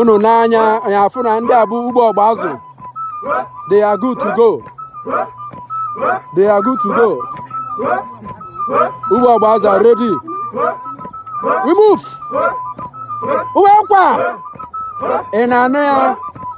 unu n'anya anyị afụ na ndị a bụ ugbo ọgba azụ they are good to go they are good to go ugbo ọgba azụ are ready we move uwe kwa ị na-anụ ya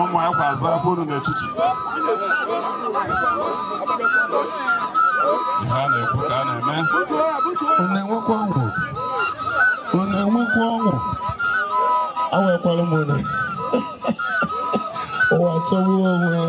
ụmụ akwa azụ afọ unu n'echichi ihe a na-ekwu ka a na-eme ọ na-enwekwa ọṅụ ọ na-enwekwa ọṅụ awekwala m unu ụwa chọgbuo onwe ya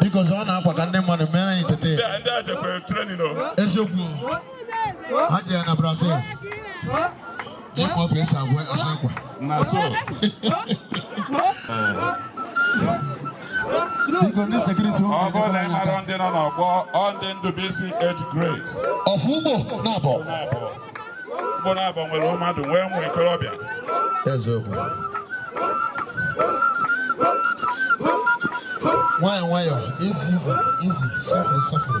biko zọ ọ na-akwa ka ndị mmadụ mere anyị tete ndị a jekwe training o eziokwu ha ji ya na brazil ịkpọ ọkụ esi agwa asụ akwa na so biko ndị security ụmụ ọ bụrụ na ị mara ndị nọ n'ọgbọ ọ ndị ndụbisi age grade of ugbo nabọ na-abụ mkpụrụ abụọ nwere mmadụ nwee ụmụ ikorobịa eziokwu nwayọ nwayọ izi izi izi sọfụrụ sọfụrụ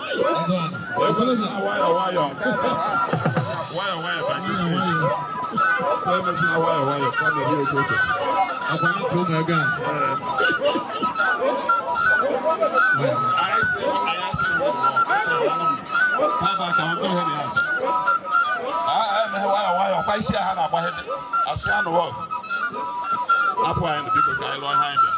Asị anụ ọgụ. Hapụ anyị biko ka anyị lụọ ihe anyị bịara.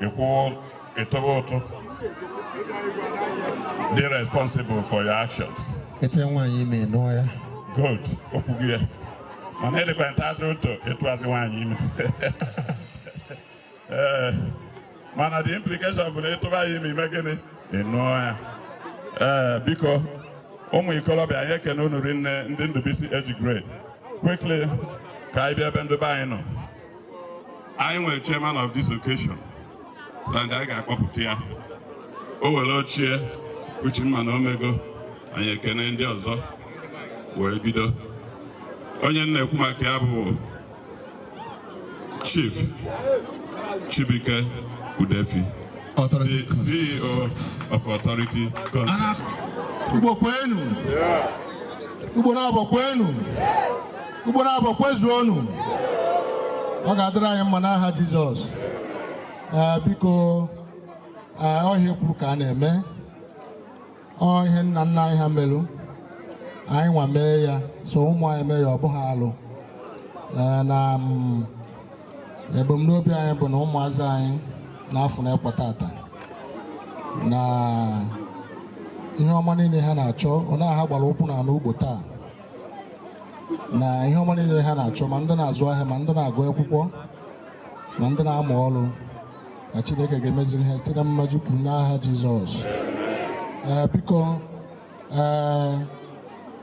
i kwuo ị tụba ụtụ be responsible for your actions ị tụa nwaanyị ime nụọ ya good okwu gị ya mana ịdịkwa na-atọ ụtọ ịtụazị nwaanyị ime ee mana the implication bụ na ị tụba ya ime ị mee gịnị ị nụọ ya ee biko ụmụ ikolobịa anyị ekene unu rinne ndị ndụbisi age grade quickly ka anyị bịa ebe ndị be anyị nọ anyị nwere chairman of this occasion na ndị anyị ga-akpọpụta ya o were oche ya uche mma na o mego anyị ekene ndị ọzọ wee bido onye m na-ekwu maka ya bụ chief Chibuike Udefi the CEO of Authority Concept. Ugbo kwenu. Ugbo nabọ kwenu. Ugbo nabọ kwezuonu ọ ga-adịrị anyị mma n'aha Jizọs ee biko ee ọ ihe e kwuru ka a na-eme ọ ihe nna nna anyị ha merụ anyị nwa mee ya so ụmụ anyị mee ya ọ bụghị alụ ee na mm, ebumnobi anyị bụ na ụmụazị anyị na-afụ na ekwe tata na ihe ọma niile ha na-achọ ọ na ha gbara ụkwụ n'ala Ugbo taa na ihe ọma niile ha na-achọ ma ndị na-azụ ahịa ma ndị na-agụ akwụkwọ ma ndị na-amụ ọrụ na Chineke ga-emeziri ha site na mmaju kwuru n'aha Jizọs ee biko ee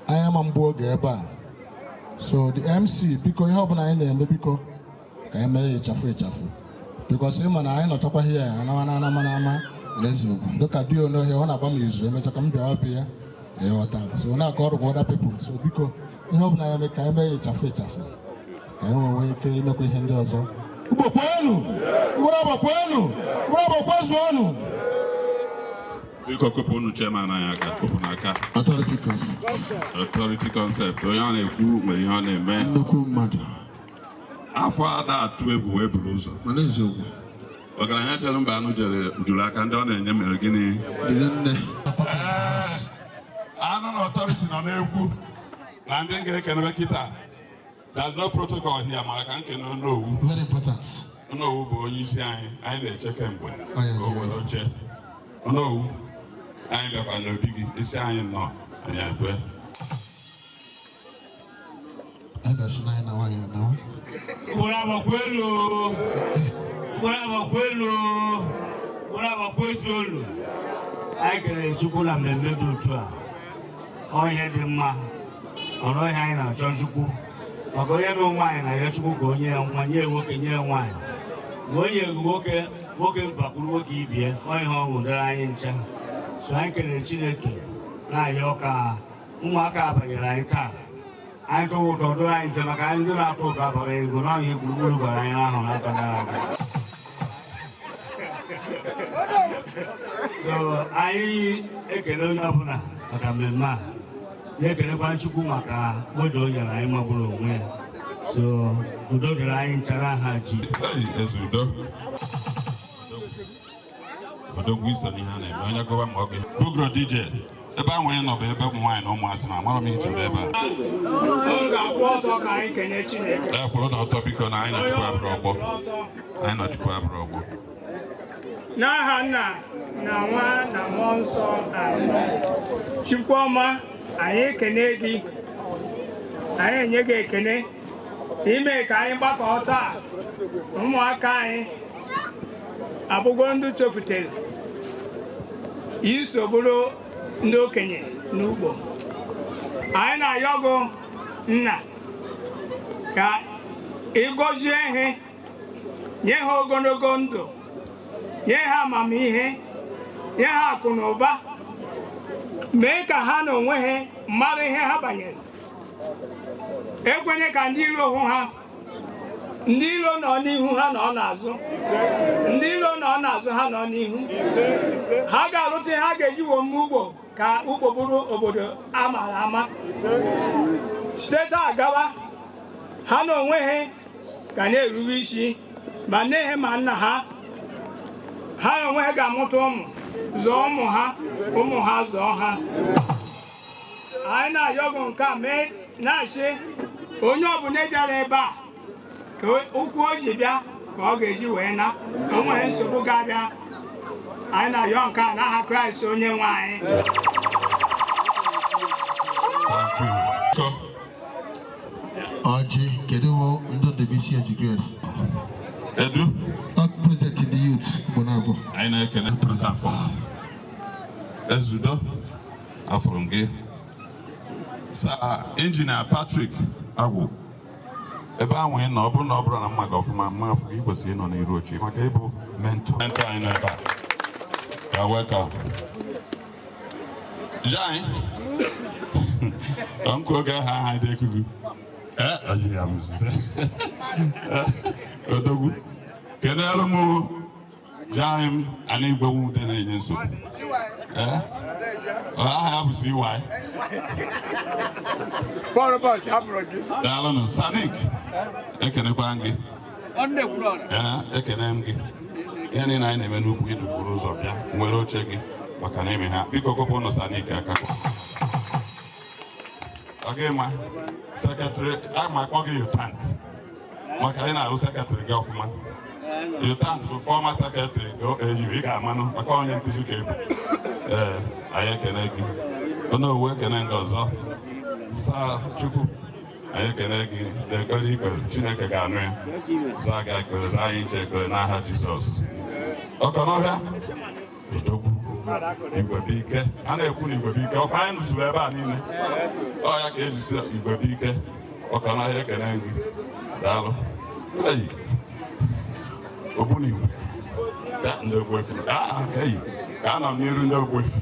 anyị ama mgbu oge ebe a so the MC biko ihe ọbụla anyị na-eme biko ka anyị mee ya sharp sharp because ị ma na anyị nọchakwaghị ya anawa na anama na ama n'eziokwu dịka di onohe ọ na-agba m izu emecha ka m bịa ọbịa ya ị ghọta so na-akọ ọrụ kwa other people so biko ihe ọ bụla a ya-eme ka anyị mee ya sharp sharp ka anyị wee nwee ike imekwa ihe ndị ọzọ Ugbo kwenu Ugbo nabọ kwenu Ugbo nabọ kwezuonu biko kụpụnụ chairman anyị aka kụpụnụ aka authority concept authority concept onye ọ na-ekwu nwere ihe ọ na-eme nnukwu mmadụ afọ ada atụ egwu wee buru ụzọ mana eziokwu ọgaranya chere mba anụ jere juru aka ndị ọ na-enye mere gịnị dịrị nne anụ na authority nọ n'egwu na ndị m ga-ekenebe kịta there's no protocol here mara ka m kene onowu very important onowu bụ onye isi anyị anyị na-eche kemgbe Oh, yeah, ka o were yes. oche onowu anyị bịakwa n'obi gị isi anyị nọ anyị ekwe anyị kelere chukwu na mmemme dị otu a ọ ihe dị mma ọ bụ ihe anyị na-achọ chukwu maka onye na nwaanyị na-ayọ chukwu ka o nye ya nwa nye nwoke nye nwaanyị ma o nye nwoke nwoke bakwuru nwoke ibie ọ ihe ọṅụ dịrị anyị ncha so anyị kelere chineke na-ayọ ka ụmụaka abanyere anyị taa anyị tụwa ụtụ dụrụ anyị mfe maka anyị ndị na-atụ ụtụ abara ego na ihe gburugburu gwara anyị ahụ n'afọ gara aga so anyị ekele onye ọbụla maka mmemme a na-ekelekwa Chukwu maka oge o nyere anyị magburu onwe ya so udo dịrị anyị ncha n'aha Ji Hey, Ezeudo. odogwu i so n'ihe a na-eme onye gụwa ma ọ gị bugro dj ebe ahụ onye nọ bụ ebe ụmụ nwaanyị na ụmụazị na amara m iji ebe a e kwụrụnụ ọtọ biko na anyị na chukwu abụrọ ọgbọ anyị na chukwu abụrọ ọgbọ n'aha nna na nwa na mmụọ nsọ chukwu ọma anyị ekene gị anyị enye gị ekene ime ka anyị gbakọọ taa ụmụaka anyị abụgo ndị tofutere iso bụrụ ndị okenye n'ugbo anyị na-ayọ gụ nna ka ị gọzie ha nye ha ogologo ndụ nye ha amamihe nye ha akụ na ụba mee ka ha na onwe ha mara ihe ha banyere ekwenye ka ndị iro hụ ha ndị iro nọ n'ihu ha nọ n'azụ ndị iro nọ n'azụ ha nọ n'ihu ha ga-arụta ihe ha ga-eji wee mee ugbo ka ugbo bụrụ obodo a mara ama site taa gawa ha na onwe ha ga na-erube isi ma nne ha ma nna ha ha na onwe ha ga-amụta ụmụ zụọ ụmụ ha ụmụ ha zụọ ha anyị na-ayọ gị nke a mee na-asị onye ọbụla bịara ebe a ka ụkwụ o ji bịa ka ọ ga-eji wee naa o nwerọ nsogbu ga-abịa anyị na-ayọ nke a n'aha kraịst onye nwe anyị ọjị kedu wo ndị ndubuisi age grade kedu president the youth bụ na abụọ anyị na-ekele president afọ ezeudo afụrụ m gị Sir Engineer Patrick Agwụ ebe ahụ ị nọ ọ bụrụ na ọ bụrụ na m ma gị ọfụma m ma afụ gị i kwesịrị ịnọ n'iru oche maka ị bụ mentor mentor anyị nọ ebe a you're welcome jai ọnkụ oge aha aha dị ekugu ee ọjiri ya m zụta odogwu kenelu m Jaghị m ana igwe nwa ude na-enye nsogbu Eh? Ọ, aha ya bụ CY Bọọlụ bọọlụ ka a bụrụ gị. daalụnụ sanik ekenekwa m gị Ọ nne kwuru ọrụ. Ee, ekene m gị ihe niile anyị na-eme n'ugbo i dufuru ụzọ bịa were oche gị maka na ime ha biko kụọrọnụ sanik aka ọ gị ma sekretrị a ma akpọ gị yutant maka anyị na-arụ sekretrị gị ọfụma U Thant bụ fọma sekretrị OAU ị ga-amanụ maka onye nkụzi ka ị bụ ee anyị ekene gị onowu ekene gị ọzọ saa chukwu anyị ekene gị n'ekpere i kpere chineke ga-anụ ya zaa gị ekpere zaa anyị ncha ekpere n'aha jizọs ọkọnọhịa odogwu igwebuike a na-ekwu na igwebuike ọkwa anyị nọzuru ebe a niile ọ ya ka e ji sị igwebuike ọkọnọhịa ekene gị daalụ eyi ogbunigwe ya ndị ogbuefi ka a nọ n'iru ndị ogbuefi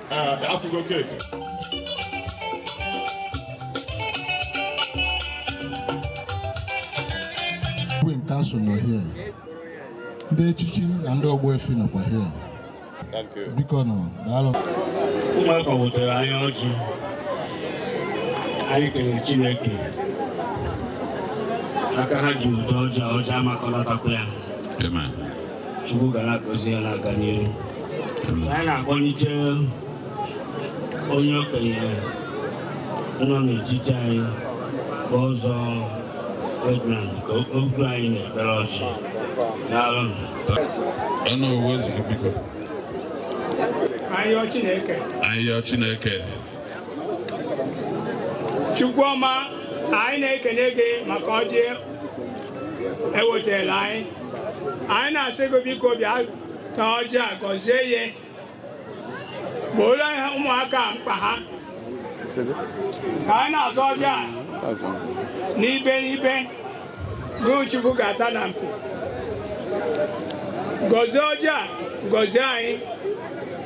Igwe in council nọ here ndị echichi na ndị ogbuefi nọkwa here bikonụ daalụ ụmụaka wetara anyị ọjị anyị kelere Chineke aka ha ji wote ọjị ọjị amakọlatakwa ya Chukwu ga na-agọzi ya na-aga n'ihu anyị na-akpọnite onye okenye nọ n'etiti anyị bụ ọzọ Ferdinand ka o buru anyị n'ekpere ọjị daalụ Onowu ozugbo biko. Ayọ Chineke. Ayọ Chineke. Chukwu ọma anyị na-ekene gị maka ọjị ewetela anyị anyị na-asị gị biko bịa ta ọjị a gọzie ya gbooro ụmụaka a mkpa ha ka anyị na-ata ọjị a n'ibe n'ibe Chukwu ga-ata na mpi gọzie ọjị a gọzie anyị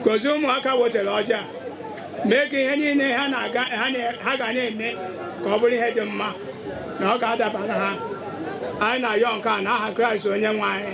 gọzie ụmụaka wetara ọjị a mee ka ihe niile ha na-aga ha na- ha ga na-eme ka ọ bụrụ ihe dị mma na ọ ga-adabara ha anyị na-ayọ nke a n'aha Kraịst onye nwe anyị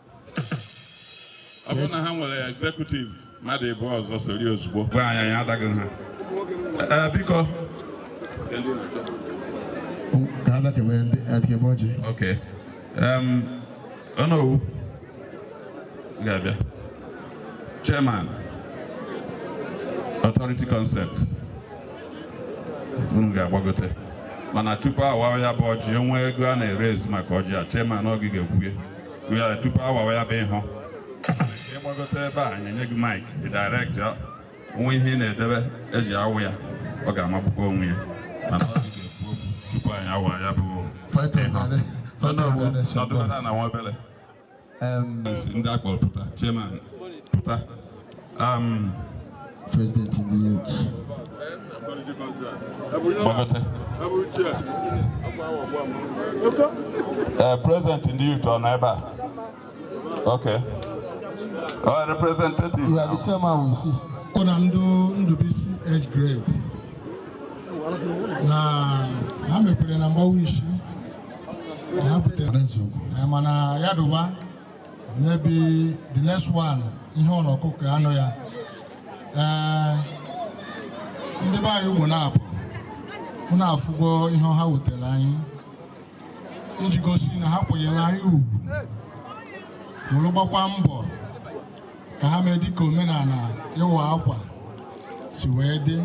ọ bụrụ na ha nwere executive mmadụ ịbụ ọzọ sori ozugbo gwa anyị anyị adaghị ha Ee, biko ka a dakebe ndị adịkebe ọjị ok Em, onowu ị ga-abịa chairman authority concept unu ga-agbagote mana tupu a waa ya bụ ọjị o nwe ego a na-eraise maka ọjị a chairman ọ gị ga-ekwu ya wee tupu a wawa ya bụ ihe ị gbagote ebe a anyị enye gị maịk dị dairektị o nwe ihe ị na-edebe eji awụ ya ọ ga-amagbukwa onwe ya mana ọ ga-ekwu okwu tupu anyị awa ya bụ ọjị na nwa obere ndị a kpọrọ pụta chairman pụta Um, President ndị youth. Kpọkọta. Uh, President ndị youth ọ nọ ebe a? Okay. Our representative. You are the chairman we see. Ọ na ndị Ndụbisi age grade na ha mepere na mgbawa isi na ha butere President. mana ya dụba maybe the next one ihe ọ n'ọkụkọ anụ ya ee ndị be anyị Ugbonabo unu afụgo ihe ọha wetara anyị iji gosi na ha kwenyere anyị ugwu were gbakwa mbọ ka ha mee dịka omenala ịwa akwa si wee dị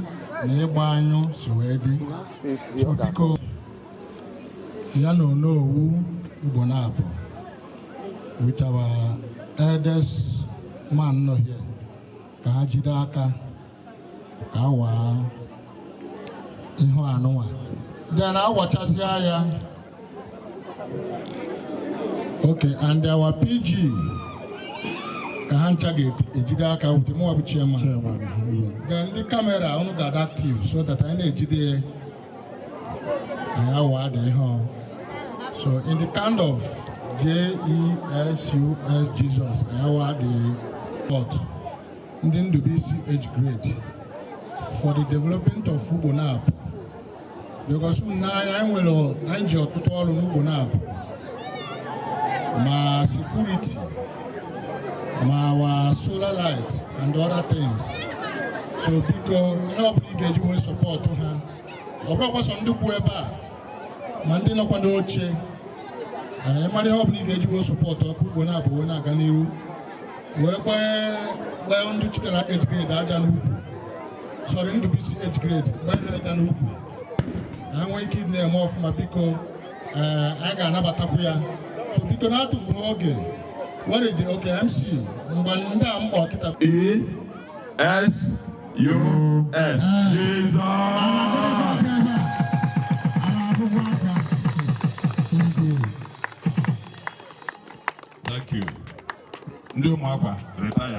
na ịgba anyụ si wee dị so biko ya na Onowu Ugbonabo with our eldest man nọ here ka ha jide aka ka a waa ihu anụnwa then a wachasịa ya okay and our PG ka ha ncha ga-ejide aka with mụwa bụ chairman then ndị camera unu ga-adị active so that anyị na-ejide So in the count of J-E-S-U-S Jesus, anyị awadịgo ndị Ndubisi age grade for the development of Ugbonabo. Because na anyị nwere anyị ji ọtụtụ ọrụ n'Ugbonabo ma security ma our solar light and other things so biko ihe ọ bụla ị ga-eji wee support ha ọ bụrọkwa sọ ndị kwụ ebe a ma ndị nọkwa n'oche ị mara ihe ọ bụla ị ga-eji wee support ka Ugbonabo wee na-aga n'iru wee gbaa ndị chụtara age grade aja n'ukwu sorry Ndụbisi age grade gbaa ha aja n'ukwu ka ha nwee ike ịdị na-eme ọfụma biko ee anyị ga-anabatakwu ya so biko na-atụfughị oge were je okay MC mgbe ndị a mkpọ kịta E-S-U-S Jesus. Thank you. Ndị ụmụakwa retire.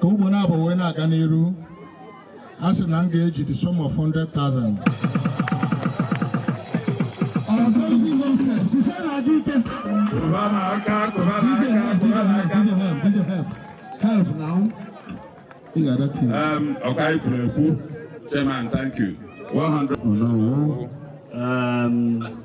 ka Ugbonabo wee na-aga n'iru a sị na m ga-eji the sum of 100,000 ọka anyị kwuru ekwu chairman thank you 100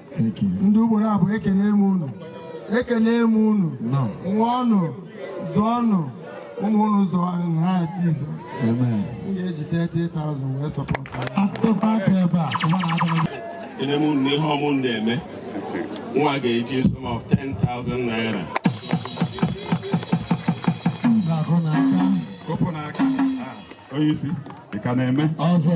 ndị Ugbonabo ekene m unu ekene m unu ṅụọnụ zụọnụ ụmụ unu zụọ n'aha Jizọs m ga-eji 30,000 wee sọpọtụ ekene m unu ihe unu na-eme nwa ga-eji sum of 10,000 naira kopụ n'aka onye isi ị ka na-eme ọzọ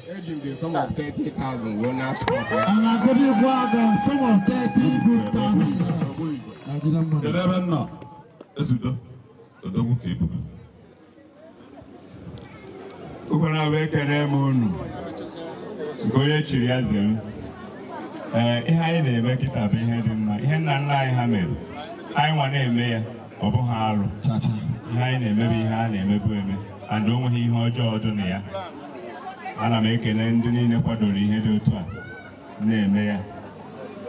Eji m the sum of 30,000 wee na-asọpọt ya. A na-agụdị ịgwọ aga sum of 30 good thousand. Ajịna mmadụ. Kedu ebe nna Ezeudo odogwu ka ibu Ugbonabo ekene m unu nke onye chiri ya zere ee ihe anyị na-eme kịta bụ ihe dị mma ihe nna nna anyị ha mere anyị nwa na-eme ya ọ bụghị arụ chacha ihe anyị na-eme bụ ihe a na-emebu eme and o nweghị ihe ọjọọ dị na ya ana m ekele ndị niile kwadoro ihe dị otu a na-eme ya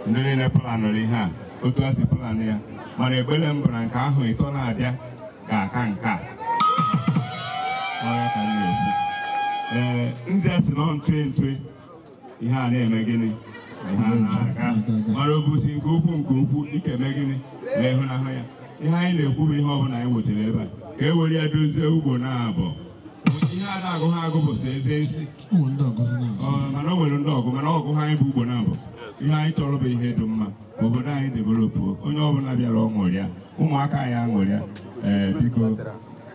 ndị niile planụrụ ihe a otu a si planụ ya mana ekpere m bụ na nke ahọ ịtọ na-abịa ga-aka nke a Ọ ya ka m na-ekwu. Ee, nze si nọ ntụ ntụ ihe a na-eme gịnị ihe a na-aga mara obusi nke ukwu nke ukwu ike eme gịnị na ịhụnahụ ya ihe anyị na-ekwu bụ ihe ọbụla anyị wetara ebe a ka e were ya dozie Ugbonabo ihe a na-agụ ha agụ bụsị eze isi mana o nwere ndị ọgụ mana ọgụ ha anyị bụ Ugbonabo ihe anyị chọrọ bụ ihe dị mma obodo anyị developuo onye ọbụla bịara ọ ṅụrịa ụmụaka anyị aṅụrịa ee biko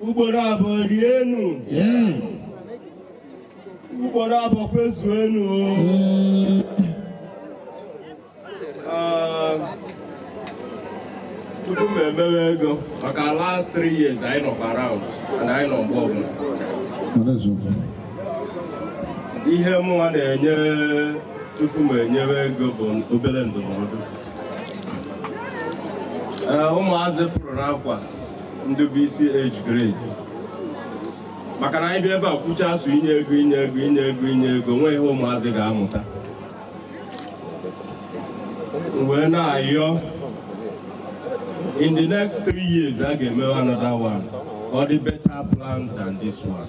Ugbonabo rienu Ugbonabo kwezuenu ah, tupu m emewe ego maka last three years anyị nọ around and anyị nọ mgbe ọbụla ihe mụnwa na-enye tupu m enyewe ego bụ obere ndụmọdụ eh, ụmụazị pụrụ n'akwa Ndubuisi age grade maka na anyị bịa ebe a kwuchaa sọ inye ego inye ego inye ego inye ego nweghị ihe ụmụazị ga-amụta wee na-ayọ in the next three years a ga-emewe another one ọ dị better plan than this one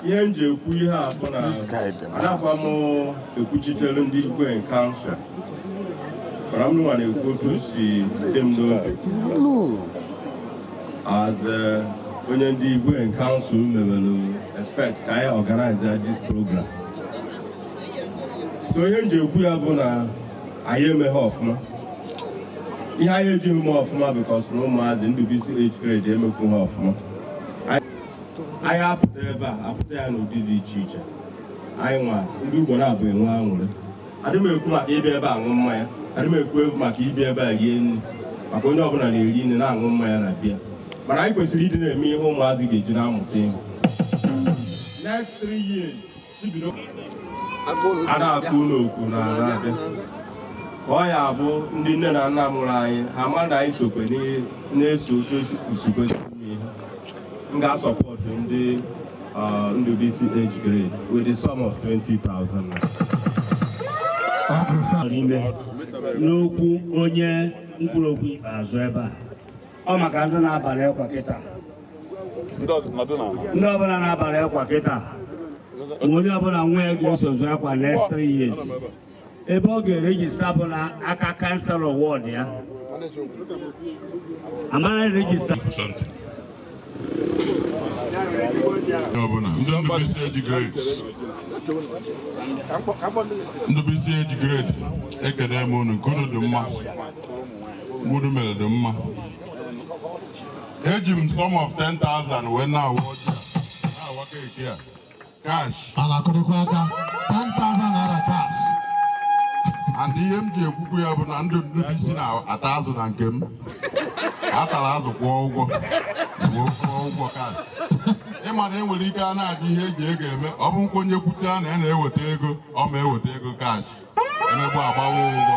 ihe m ji ekwu ihe a bụ na anakwa m ekwuchitere ndị igwe in kansụl mana m nwa na-ekwu otu o si dị m n'obi as onye ndị igwe in kansụl mebere expect ka anyị organize this program so ihe m ji ekwu ya bụ na anyị emeghị ọfụma ihe anyị ejighị mee ọfụma because na ụmụazị Ndubuisi age grade emekwuha ọfụma anyị apụta ebe a apụta ya n'ụdị dị iche iche anyị nwa ndị ugbo na-abụ enwe aṅụrị adị m ekwu maka ịbịa ebe a ṅụọ mmanya adị m ekwu ekwu maka ịbịa ebe a rie nri maka onye ọbụla na-eri nri na-aṅụ mmanya na be ya mana anyị kwesịrị ịdị na-eme ihe ụmụazị ga-eji na-amụta ihe next three years a na-atụ ụlọ okwu na na-abịa ka ọ ya bụ ndị nne na nna mụrụ anyị ha ma na anyị sokwe na-eso otu o si kwesị ihe m ga-asupport ndị Ndubisi age grade with the sum of 20,000 n'okwu onye kwuru okwu ikpeazụ ebe a ọ maka ndị na-abalị ekwa kịta ndị ọzọ nọdụ na ala. ndị ọbụla na-abalị ekwa kịta ma onye ọbụla nwa ya ga-eso zụ akwa next three years ebe ọ ga-eregister bụ na aka councillor ward ya amara eregister something. Ndubisi age grade ekene m unu nke unu dị mma unu mere dị mma eji m sum of 10,000 wee na-awa ọjị a na-awa cake a cash a na-akụrịkwa aka 10,000 naira cash and ihe m ji ekwukwu ya bụ na ndị Ndubisi na-ata azụ na nke m atara azụ kwụọ ụgwọ kwụọ kwụọ ụgwọ cash ịma na enwere ike a na-ajụ ihe eji ego eme ọ bụ nkwa onye kwute ya na ya na-eweta ego ọ ma eweta ego cash emegbu agbawa ụgwọ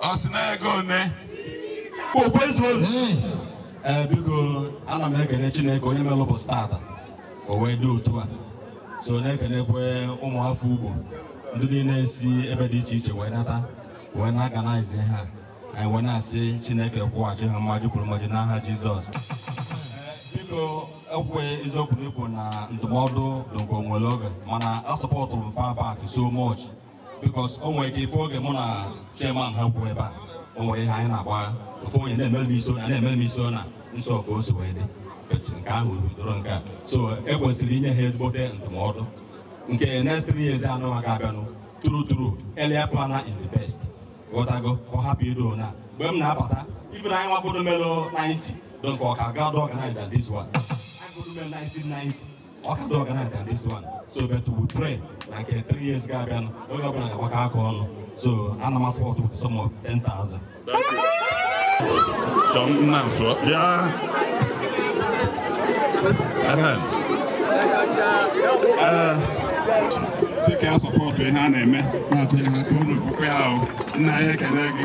Ọ sị na ego one. Okwu ezu ozu. Ee, biko ana m ekele Chineke onye mere ụbọchị tata o wee dị otu a so na-ekelekwe ụmụafọ Ugbo ndị niile si ebe dị iche iche wee nata wee na-organize ha anyị wee na-asị Chineke kwụghachi ha mmaji kwuru mmaji n'aha Jizọs biko ekwe eziokwu na ikwu na ndụmọdụ dụkwa o nwere oge mana asupportụrụ m far back so much because o nwere ike ife oge mụ na chairman ha kwuo ebe a o nwere ihe anyị na-agba ofu onye na-emere m isi na na-emere m isi na nsọ ka o si wee dị but nke ahụ bidoro nke a so e kwesịrị inye ha ezigbote ndụmọdụ nke next three years anụ ha ga-abịanụ true true earlier planner is the best ghọtago ka ọ hapụ ido na mgbe m na-abata ife na anyị nwagodo melo 90 don ka ọ ka dị organized than this one. I go do melo 1990 ọ ka dị organized than this one so but we pray na nke three years ga-abịanụ onye ọbụla ga-agbakọ aka ọnụ so ana m asupport with sum of 10,000 So nna nso bịa Ahem. Ee, sị ka ya support ihe a na-eme na-akụ ihe ha ka unu fụkwa ya ahụ nna anyị ekele gị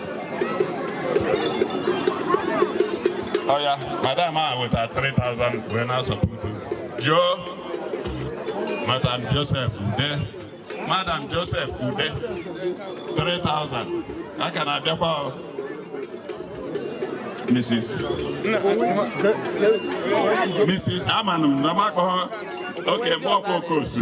ọya madam a weta 3000 wee na-asupport Joe madam joseph ude madam joseph ude 3000 a ka na-abịakwa ọ. mrs mrs amanụ m na m akpọghọ oke mgbe ọkwa okosu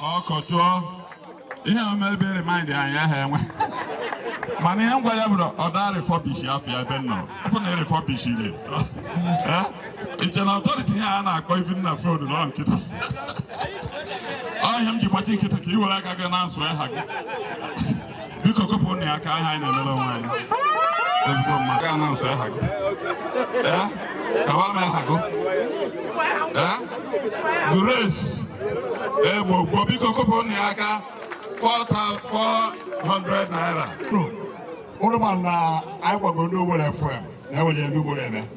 ọkọchụọ ihe a ma ebe remind anyị aha enwe mana ihe m gwa ya bụrụ ọda refurbish afọ ya ebe nọ bụ na refurbish re iche na authority ihe a na-akpọ even na phone nọ nkịtị ọ ihe m ji gbachi nkịtị ka i were aka gị na nsụ aha gị biko kụpụ na ya aka aha anyị na-emere onwe anyị ezigbo mmadụ ga anọnsụ aha gị ee kawara m aha gị ee Grace Egbo gbo biko kụpụ na ya aka 400 naira ụlụma na anyị gbago ndị Owerri FM na-ewere ndị Owerri eme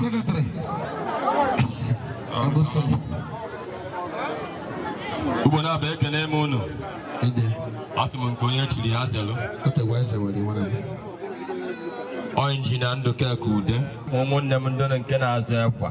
Secretary. Abusai. Ugbo na-abụ ekene m unu. Ide. Asị m nke onye chiri ya zelu. Otegwa eze were iwe na Ọ injinia Ndụka Ekude. Ụmụnne m ndị nke na-azụ ekwa.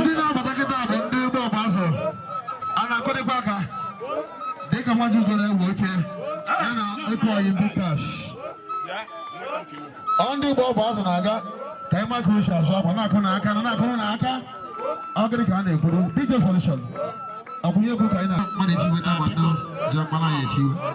ndị na-abata kịta bụ ndị ụgbọ ọgba azụ a na-akụrịkwa aka dịka Nwajiugo na-ewe oche ya na eku oyi ndị kash ọ ndị ụgbọ ọgba azụ na-aga ka ịma ka uche azụ akwa na-akụ na aka na na-akụ na aka ọ gịrị ka a na-ekwuru dj solution akụnye egwu ka anyị na-akpọ na-echiwe na-agbado ji akpara ya echiwe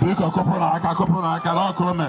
biko kụpụrụ aka kụpụrụ aka na ọkụ ome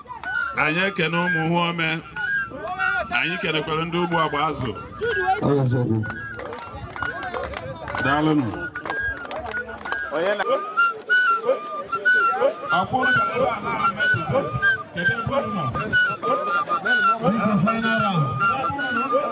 anyị ekene ụmụ hụ ome anyị kenekwere ndị ụgbọ agba azụ daalụnụ Final round.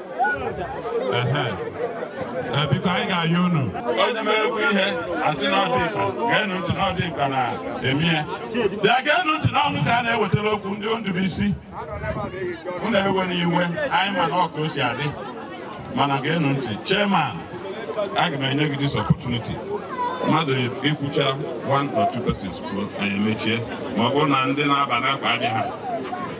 biko anyị ga-ayọ unu onye mere ekwu ihe a sị na ọ dị mkpa geenụ ntị na ọ dị mkpa na eme ya bịa geenụ ntị na ọ unu ka a na-ewetara okwu ndị Ndụbuisi unu ewena iwe anyị ma na ọ ka o si adị mana geenụ ntị chairman aga m enye gị this opportunity mmadụ ikwucha one or two persons kwuo anyị emechie ma ọ bụrụ na ndị na-aba n'akpa adị ha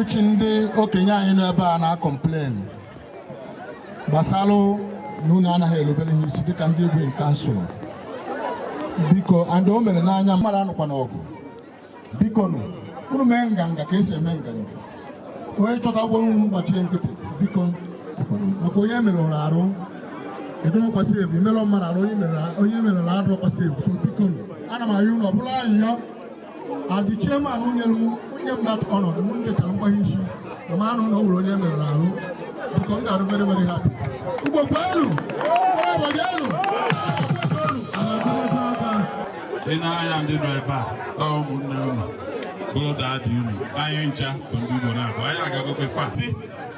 uchi ndị okenye anyị nọ ebe a na-akọmplen gbasalụ na unu anaghị elubere ha isi dịka ndị igwe in kansụl biko and o mere n'anya mmadụ anụkwana ọgụ biko nụ unu mee nganga ka esi eme nganga onye chọta okwu unu gbachie nkịtị biko maka onye merụrụ arụ adịrọkwa safe i melụ mmadụ arụ onye merụrụ arụ adịrọkwa safe so biko nụ ana m ayọ unu ọ bụrụ ayịyọ As the chairman unu nye m that honor, unu jechaa mgbagha isi, ama m anụ na o nwere onye melụrụ arụ, biko m ga-adị very, very happy. Ugbo kwenu! Elu! Ị na-anya ndị nọ ebe a, ọ ụmụnne unu, bụrụ daddy unu, anyị ncha bụ ndị Ugbonabor, anyị agagokwe fati.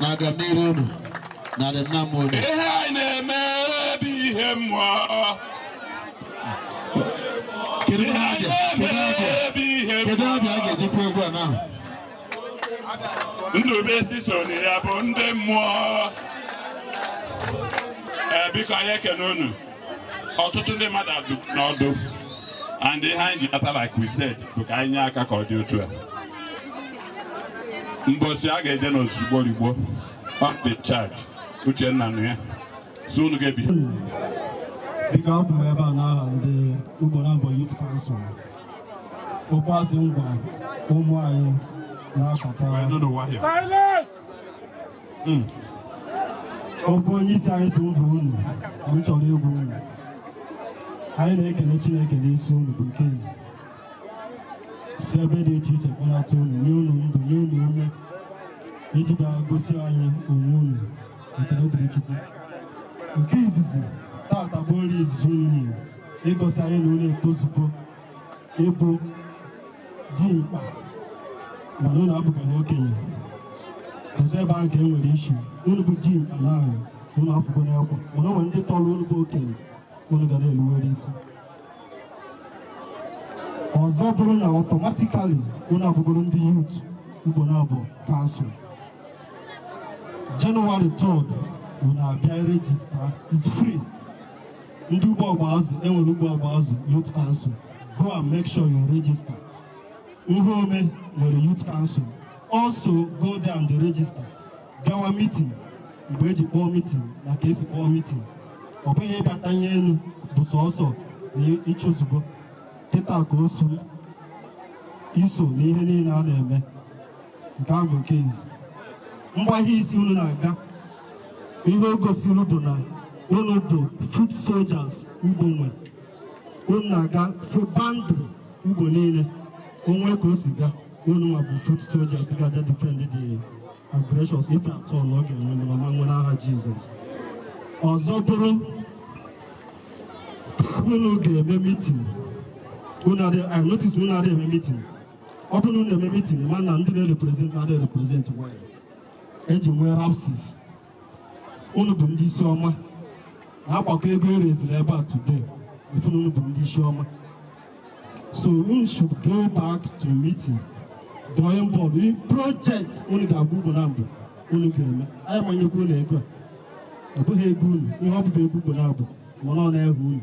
na agamnihu unu na adịmnamma unu ihe anyị na-eme bụ ihe mmụọ kedu ihe a ga- kedu abịa bụ ihe kedu abịa a ga-ejikwa egwu a n'ahụ Ndụbisi so na ya bụ ndị mmụọ ee biko anyị ekene unu ọtụtụ ndị mmadụ adụ n'ọdụ and ihe anyị ji nata like we said bụ ka anyị nye aka ka ọ dị otu a mbọsi a ga-eje n'ozugbo rigbo on the charge Uchenna nụ ya so unu ga-ebi biko abụ m ebe a n'aha ndị Ugbonabor yut kansụl ụkwazị ngwa ụmụ anyị na-achọta okwu onye isi anyị si ụbụ unu m chọrọ egwu unu anyị na-ekele chineke n'isi unu bụ nke izi si ebe dị iche iche kpọnata unu nye unu ndụ nye unu ume iji bịa gosi anyị onwe unu ekele dịrị Chukwu nke izizi tata bụ ori izizi unu nyere ịgosi anyị na unu etozugo ịbụ dimkpa mana unu abụbeghị okenye ọzọ ebe ahụ ka e nwere ishi unu bụ dimkpa na anyị unu afụgo n'ekwa mana o nwere ndị tọrọ unu bụ okenye unu ga na-eluwere isi ọzọ bụrụ na ọtọmatikali unu abụgoro ndị yut Ugbonabor kansụl jenụwarị 3rd unu abịa rejista is free ndị ugbo ọgba azụ enwere ugbo ọgba azụ yut kansụl go and make sure you register ihe ome nwere yut kansụl also go there and register bịawa mitin mgbe eji kpọọ mitin na ka esi kpọọ mitin ọ bụghị ịbata ihe elu bụ sọsọ na ịchụzugbo kịta ka o so iso na ihe niile a na-eme nke ahụ bụ nke izi mgbagha isi unu na-aga ihe o gosiri bụ na unu bụ foot soldiers ugbo nwere unu na-aga fụ boundary ugbo niile o nwe ka o si gaa unu nwa bụ foot soldiers ga-aja defend the aggressions if at all na ọ ga-enwe na ọ ma nwe n'aha jizọs ọzọ bụrụ unu ga-eme mitin unu adị i notice unu adị eme mitin ọ bụrụ na unu eme mitin mana ndị na-represent adị represent well eji nwee lapses unu bụ ndị isi ọma na-agbakọ ego ereziri ebe a today ị fụ na unu bụ ndị isi ọma so unu should go back to meeting drawing board project unu ga-agwa Ugbonabọ unu ga-eme anyị ma nyekwa unu ego a ọ bụghị ego unu ihe ọ bụ bụ ego Ugbonabọ mana ọ n'aha unu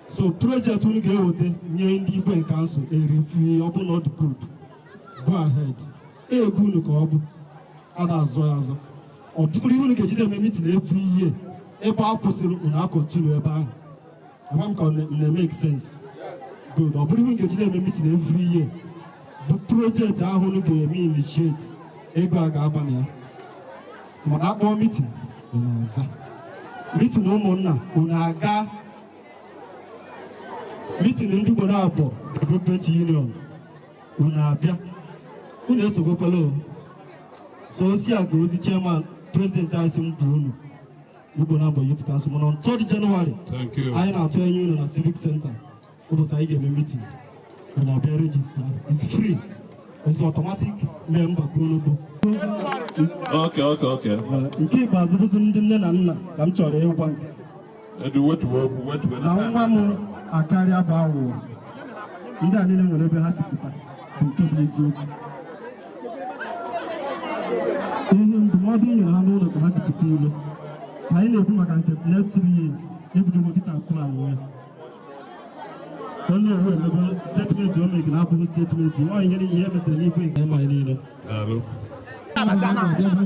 so project unu ga-eweta nye ndị igwe kansụl e review ọ bụ na ọ dị good go ahead ego unu ka ọ bụ ada azọ ya azọ ọ bụrụ ihe unu ga-ejide eme mitin every year ebe a kwụsịrị unu akọntinu ebe ahụ agwa m ka ọ na-emeke sense good ọ bụrụ ihe unu ga-ejide eme mitin every year bụ project ahụ unu ga-eme initiate ego a ga-aba na ya mana akpọọ mitin unu aza mitin ụmụnna unu aga mitin ndị Ugbonabọ development union unu abịa unu esogbokwala o so osi a ga ozi chairman president anyị sị m bụ unu Ugbonabọ Youth Council mana on 3rd January Thank you. anyị na-atụ anya unu na civic center ụbọchị anyị ga-eme meeting unu abịa register it's free it's automatic member ka unu bụ Okay, okay, okay. nke ikpeazụ bụzi ndị nne na nna ka m chọrọ ịgwa na nwa m akarịa bụ aghụghọ ndị a niile nwere ebe ha si pụta bụ nke bụ eziokwu ihe ndụmọdụ i nyere ha n'ụlọ ka ha ji pụta ilo ka anyị na-ekwu maka nke next three years ebidogo kịta akụrụ anwụ ya Onowu emego statement o megiri abụghị statement ọ ihe niile ihe metere n'igwe nke ma niile Daalụ.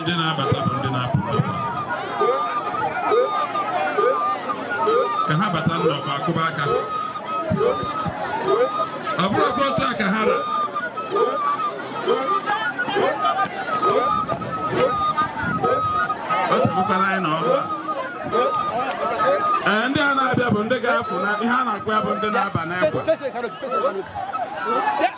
ndị na-abata bụ ndị na-apụ n'ọkwa ka ha bata n'ọkwa akụba aka ọ bụrụkwa otu a ka ha ra o chekwukwara anyị na ọrụ a ee ndị a na-abịa bụ ndị ga-apụ na ihe a na-akpọ ya bụ ndị na-aba n'ekwe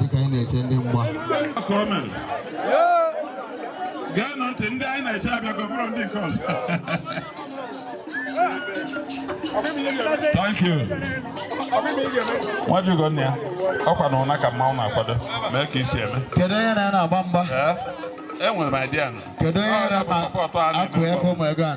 dịka anyị na-eche ndị mgba ka o mere geenụ ntị ndị anyị na-eche abịago ọ bụrụ ndị nke ọzọ thank you nwajugo nne ya ọ kwa n'ụnọ ka mmanwụ na-akwado mee ka i si eme kedu onye na ya na-agba mgba enwere m idea nụ kedu onye na-akụ ego ma ego a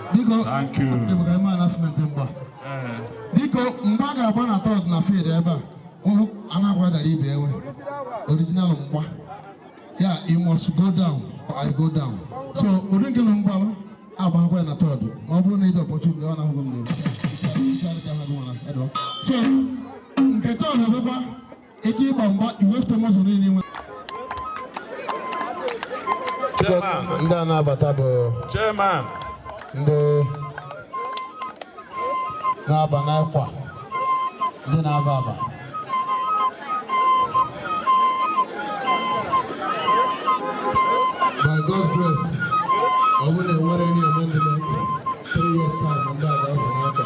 biko dịbụga ime announcement mgba eh. biko mgba a ga-agba na third na field ebe a ụhụ a na-akwadara ibe enwe original mgba yeah ị must go down or i go down so ụdị nke na mgbalụ agbakwa ya na third ma ọ bụrụ na ị dị opportunity ọ na-ahụghị m n'ezi so nke third bụkwa ike ịgba mgba iwefute muscle niile i nwe Chairman, ndị a na-abata bụ Chairman, ndị na-aba n'akwa ndị na-aba aba by God's grace ọ bụrụ na enwere any amendment three years time ndị a ga-abụ n'akwa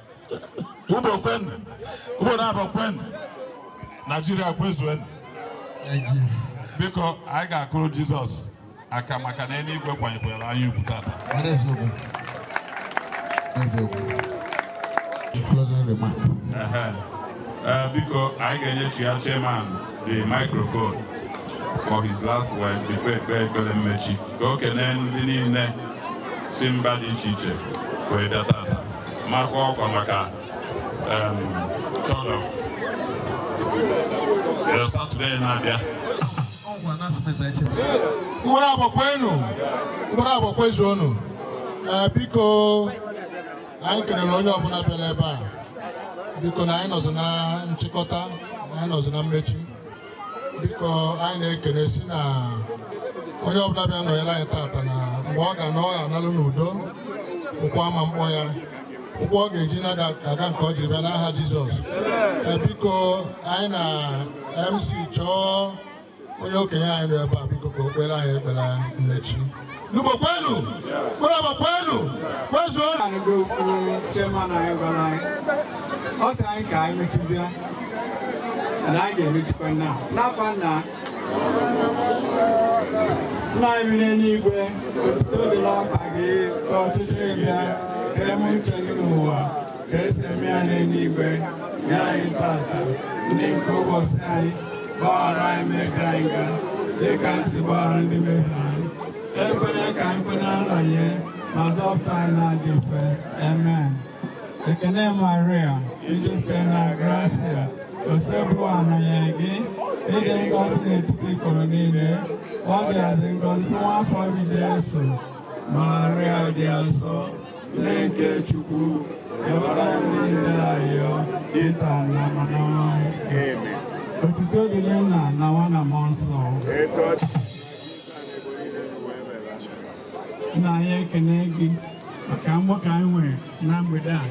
Ugbo kwenu, Ugbonabo kwenu, Naijiria kwezuenu. Biko anyị ga-akụrụ Jizọs aka maka na eluigwe kwanyekwara anyị ugwu tata. Closing remark. Eh, biko anyị ga-enyechi ya chairman the microphone for his last word before ekpe ekpere mmechi ka o kelee ndị niile si mba dị iche iche wee bịa tata maakwa ọkwa maka third of Saturday na-abịa mkpụrụ agba kwenu mkpụrụ agba kwezuonu eh, biko anyị kelere onye ọbụla bịara ebe a biko na anyị nọzị na nchịkọta anyị nọzị na mmechi biko anyị na-ekele si na onye ọbụla bịa nọnyere anyị tata na mgbe ọ ga na ọ ga-analụ n'udo ụkwụ ama mkpọ ya ụkwụ ọ ga-eji naa ga-aka nke o jiri bịa n'aha Jizọs Eh, biko anyị na MC chọọ onye okenye anyị nọ ebe a biko ka o kpere anyị ekpere mmechi Ugbo kwenu kpọrọba kwenu kwezuo anụgo okwu chairman anyị gwara anyị ọ sị anyị ka anyị mechizie na anyị ga-emechikwa nna n'afa nna nna anyị bi n'eluigwe otito dịrị afa gị ka ọchịchị gị bịa ka e mee uche gị n'ụwa ka e si eme ya n'eluigwe nye anyị tata nni nke ụbọchị anyị gbaghara anyị mmehie anyị ga dị ka anyị si gbaghara ndị mehie anyị ekwela ka anyị kwe na nranye ma zọpụta anyị n'ajọ ife amen ekene maria i jupụta na grasịa Osebụrụwa nọnyere gị ị dị ngọzi n'etiti ikporo niile ọ dịazị ngọzi nwa afọ gị jesu maria dị asọ nne nke Chukwu yọbara anyị ndị njọ ayịyọ kịta na mgbe ọnwụ anyị otuto dịrị nna na nwa na mmụọ nsọ nna anyị ekene gị maka mgbakọ anyị nwere na mgbede a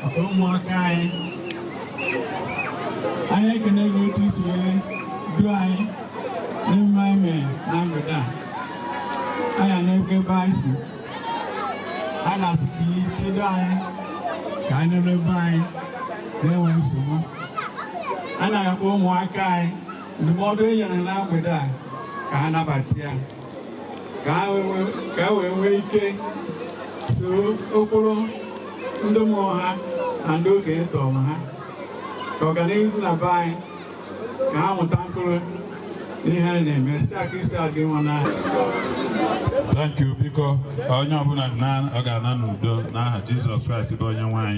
maka ụmụaka anyị anyị ekene gị otu i si wee duo anyị n'ihe anyị mere na mgbede a anyị na-ekwe ebe anyị si a na-asị ka i chedo anyị ka anyị naruo be anyị na-enweghị nsogbu a na-ayọkwa ụmụaka anyị ndụmọdụ e nyere na mgbede a ka ha nabata ya ka ha wee- ka e wee nwee ike soro ụkpụrụ ndị mụrụ ha na ndị okenye tọrọ ha ka ọganihu dịrị na be anyị ka ha mịta mkpụrụ n'ihe anyị na-eme site na Kraịst onye nwe anyị Thank you biko onye ọbụla na- ọ ga-ana n'udo n'aha Jizọs Kraịst bụ onye nwe anyị